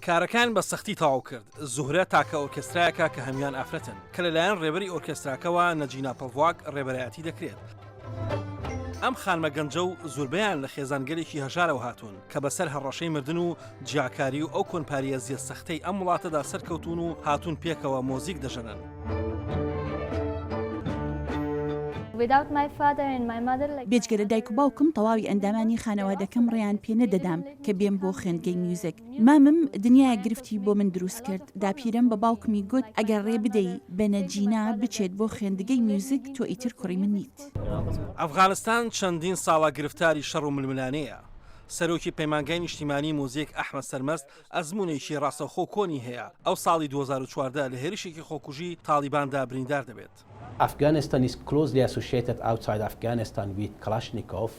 کارەکەیان بە سەختی تەواو کرد، زوهرە تاکە ئۆرکێسترایەکە کە هەموان ئافرەتن، کە لەلایەن ڕێبەری ئۆرکێستراکەوە نەجینا پەڤواک ڕێبەرایەتی دەکرێت. ئەم خانمە گەنجە و زوربەیان لە خێزانگەلێکی هەژارەوە هاتوون، کە بەسەر هەڕەشەی مردن و جیاکاری و ئەو کۆنپاریەزیە سەختەی ئەم وڵاتەدا سەرکەوتوون و هاتوون پێکەوە مۆزیک دەژەنن. بێجگە لە دایک و باوکم تەواوی ئەندامانی خانەوادەکەم ڕێیان پێ نەدەدام کە بێم بۆ خوێندگەی میوزیک. مامم دنیایەک گرفتی بۆ من دروست کرد. داپیرەم بە باوکمی گوت ئەگەر ڕێ بدەی بەنە جینا بچێت بۆ خوێندگەی میوزیک تۆ ئیتر کوڕی من نیت. ئەفغانستان چەندین ساڵە گرفتاری شەڕ و ململانێیە. سەرۆکی پەیمانگای نیشتیمانیی موزیک ئەحمەد سەرمەست ئەزموونێکی ڕاستەوخۆ و کۆنی هەیە، ئەو ساڵی دوو هەزار و چواردە لە هێرشێکی خۆکوژی تاڵیباندا بریندار دەبێت. Afghanistan is closely associated outside Afghanistan with Kalashnikov.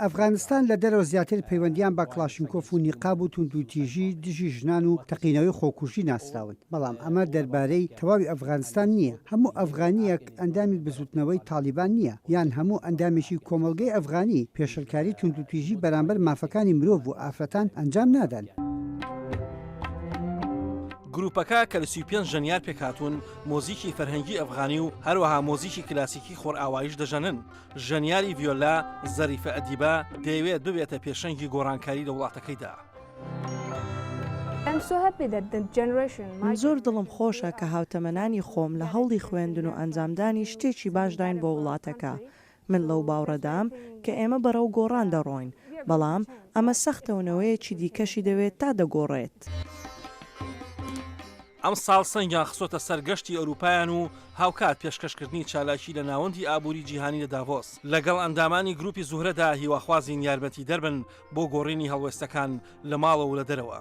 ئەفغانستان لە دەرەوە زیاتر پەیوەندییان بە کڵاشنکۆف و نیقاب و توندوتیژی دژی ژنان و تەقینەوەی خۆکوژی ناسراون، بەڵام ئەمە دەربارەی تەواوی ئەفغانستان نییە، هەموو ئەفغانییەک، ئەندامی بزوتنەوەی تاڵیبان نییە یان هەموو ئەندامێکی کۆمەڵگەی ئەفغانی پێشلکاری توندوتیژی بەرامبەر مافەکانی مرۆڤ و ئافرەتان ئەنجام نادەن. گروپەکە کە لە سی و پێنج ژەنیار پێکهاتوون، مۆزیکی فەرهەنگی ئەفغانی و هەروەها مۆزیکی کلاسیکی خۆرئاواییش دەژەنن. ژەنیاری ڤیۆلا، زەریفە ئەدیبە، دەیەوێت ببێتە پێشەنگی گۆڕانکاری لە وڵاتەکەیدا. من زۆر دڵم خۆشە کە هاوتەمەنانی خۆم لە هەوڵی خوێندن و ئەنجامدانی شتێکی باشداین بۆ وڵاتەکە. من لەو باوڕەدام کە ئێمە بەرەو گۆڕان دەڕۆین، بەڵام ئەمە سەختە و نەوەیەکی دیکەشی دەوێت تا دەگۆڕێت. ئەمساڵ سەنگیان خستۆتە سەر گەشتی ئەرووپایان و هاوکات پێشکەشکردنی چالاکی لە ناوەندی ئابووری جیهانی لە داڤۆس لەگەڵ ئەندامانی گرووپی زوهرەدا هیواخوازین یارمەتیدەر بن بۆ گۆڕینی هەڵوێستەکان لە ماڵەوە و لە دەرەوە.